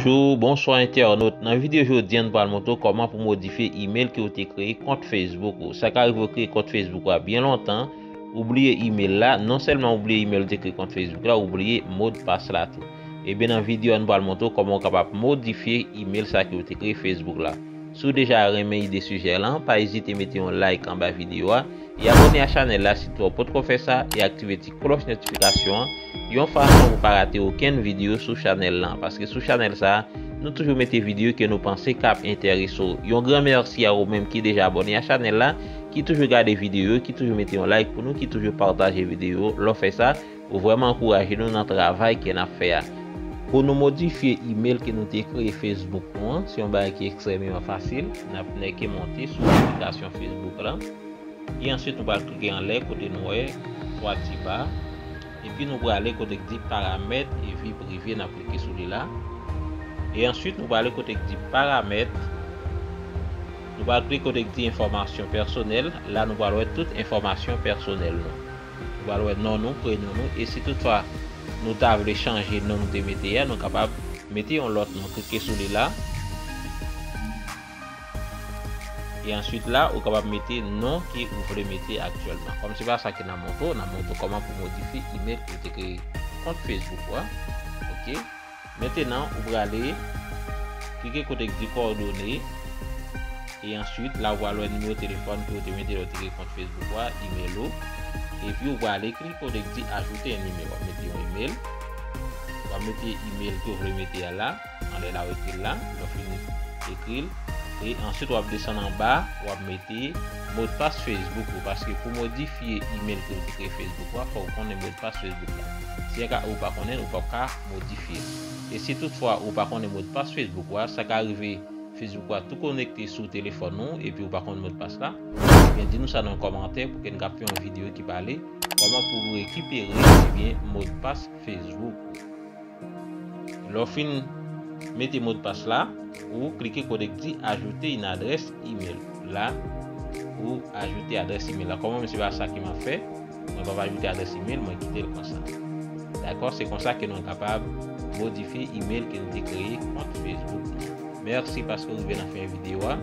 Bonjou, bonswa entènot, nan videyo jodi an nou pral montre w kòman pou modifye email ke ou te kreye kont Facebook ou. Sa ka rive ou kreye kont Facebook ou a byen lontan, ou bliye email la, non sèlman ou bliye email ou te kreye kont Facebook la, ou bliye modpas la tou. Ebyen nan videyo an nou pral montre w kòman ou kapab modifye email sa ke ou te kreye Facebook la. Si w deja renmen ide sijè lan, pa ezite mete yon like anba videyo a, e abòne a chanèl la si touw potko fè sa e aktive ti klòch notifikasyon an yon fason pou pa rate okenn videyo sou chanèl lan paske sou chanèl sa nou toujou mete videyo ke nou panse kap enterese w yon gran mèsi a ou menm ki deja abòne a chanèl la ki toujou gade videyo ki toujou mete yon like pou nou ki toujou pataje videyo lè w fè sa Ou vreman ankouraje nou nan travay ke nap fè a. Pou nou modifye email ke nou te kreye Facebook nou an, se yon bagay ki ekstrememan fasil. Nap nèke monte sou aplikasyon Facebook la. E answit nou pral klike anlè kote nou wè 3 ti ba. Epi nou prale kote k di paramèt e vi prive nap klike sou li la. E answit nou prale kote k di paramèt. Nou pral klike kote k di enfòmasyon pèsonèl. La nou pral wè tout enfòmasyon pèsonèl nou. Nou pral wè non nou, prenon nou e si tout fwa nou ta vle chanje non nou te mete ya nou kapab mete yon lòt non klike sou li la e answit la ou kapab mete non ke ou vle mete aktyèlman kòm se pa sa ki nan montre w nan montre w kòman pou w modifye email ke w te kreye kont facebook ou a ok. Mentenan ou prale Klike kote k di kòdone e answit la ou pral wè nimewo telefòn ke ou te mete lè ou te kreye kont Facebook ou a, email ou epi ou prale klike kote k di ajoute yon nimewo wap mete yon email wap mete email ke ou vle mete a la anlè la ou ekril la lè ou fini ekril e answit wap desann anba wap mete modpas Facebook ou paske pou modifye email ke ou te kreye Facebook ou a fòk ou konnen modpas Facebook la si anka ou pa konnen ou pap ka modifye li. E si tout fwa ou pa konnen modpas Facebook ou a, sa ka rive Facebook ou a tou konekte sou telefòn ou epi ou pa konn modpas la, ebyen di nou sa nan kòmantè pou ke n ka fè yon videyo ki pale kòman pou ou rekipere ebyen modpas Facebook ou. Lè w fin mete modpas la, ou klike kote k di ajouter une adresse email la, ou ajoute adrès email la. Kòm mwen se pa sa ke m ap fè. Mwen pap ajoute adrès email mwen kitel konsa. Dakò se konsa ke nou kapab modifye email ke nou te kreye kont Facebook nou an. Merci paske ou rive nan fen video a.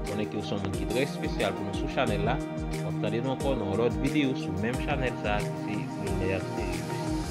Konnen ke ou son moun ki trè espesyal pou nou sou chanèl la. Wap tande nou ankò nan yon lòt video sou menm chanèl sa ki se Lunaire Serius.